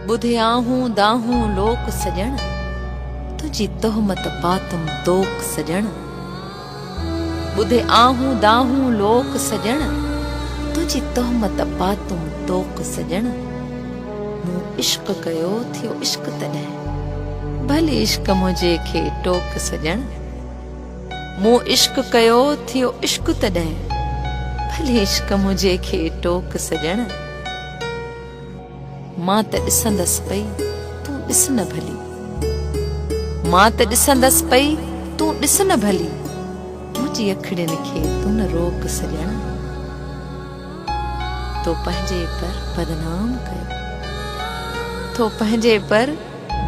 ٻڌيائون دانهون لوڪ سڄڻ، تنهنجي تهمت پاتم طوق سڄڻ. ٻڌيائون دانهون لوڪ سڄڻ، تنهنجي تهمت پاتم طوق سڄڻ. مون عشق ڪيو ٿيو عشق تڏهن، ڀلي عشق منهنجي کي ٽوڪ سڄڻ. مون عشق ڪيو ٿيو عشق تڏهن. ڀلي عشق منهنجي کي ٽوڪ سڄڻ. مان ته ڏسندس پئي تون ڏس نه ڀلي. مان ته ڏسندس پئي تون ڏس نه ڀلي. منهنجي اکڙين کي تون نه روڪ سڄڻ. تو پنهنجي پر بدنام ڪيو. تو پنهنجي پر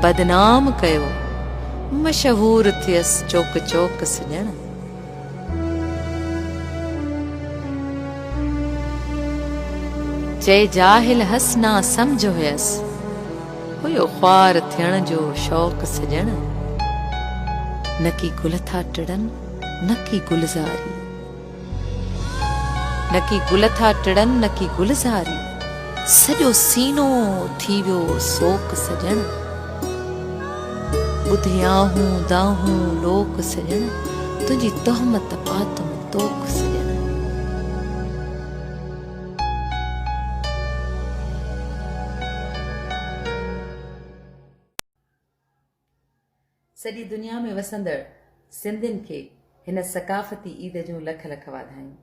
بدنام ڪيو، مشهور ٿيس چوڪ چوڪ سڄڻ. چئي جاهل هئس نا سمجهه هئس، هيو خوار ٿيڻ جو شوق سڄڻ. نڪي گل ٿا ٽڙن نڪي گلزاري. نڪي گل ٿا ٽڙن نڪي گلزاري سڄو سينو ٿي ويو سوڪ سڄڻ ٻڌي آهون دانهون لوڪ سڄڻ تنهنجي تهمت پاتم توک سڄڻ. سڄي دنيا ۾ وسندڙ سنڌين کي هن ثقافتي عيد جون لک لک واڌايون.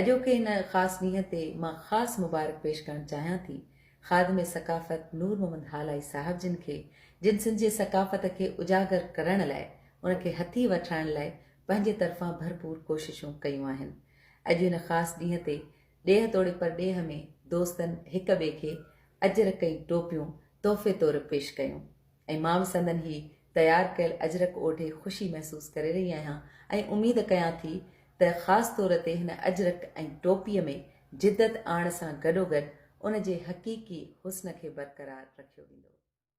اڄوڪي ان خاص ڏينهن تي مان خاص مبارڪ پيش ڪرڻ چاهيان ٿي خادم ثقافت نور محمد هالائي صاحب جن کي جن سنڌجي ثقافت کي اجاگر ڪرڻ لاء ان کي هٿي وٺرائڻ لاء پنهنجي طرفان ڀرپور ڪوششون ڪيون آهن اڄ ان خاص ڏينهن تي ڏيهه توڙي پرڏيهه ۾ دوستن هڪ ٻئي کي اجرڪ ۽ ٽوپيون تحفي طور پيش ڪيون ۽ مان به سندن هي تيار ڪيل اجرڪ اوڍي خوشي محسوس ڪري رهي آهيان ۽ اميد ڪيان ٿي ته خاص طور تي هن اجرڪ ۽ ٽوپيء ۾ جدت آڻڻ سان گڏوگڏ ان جي حقيقي حسن کي برقرار رکيو ويندو.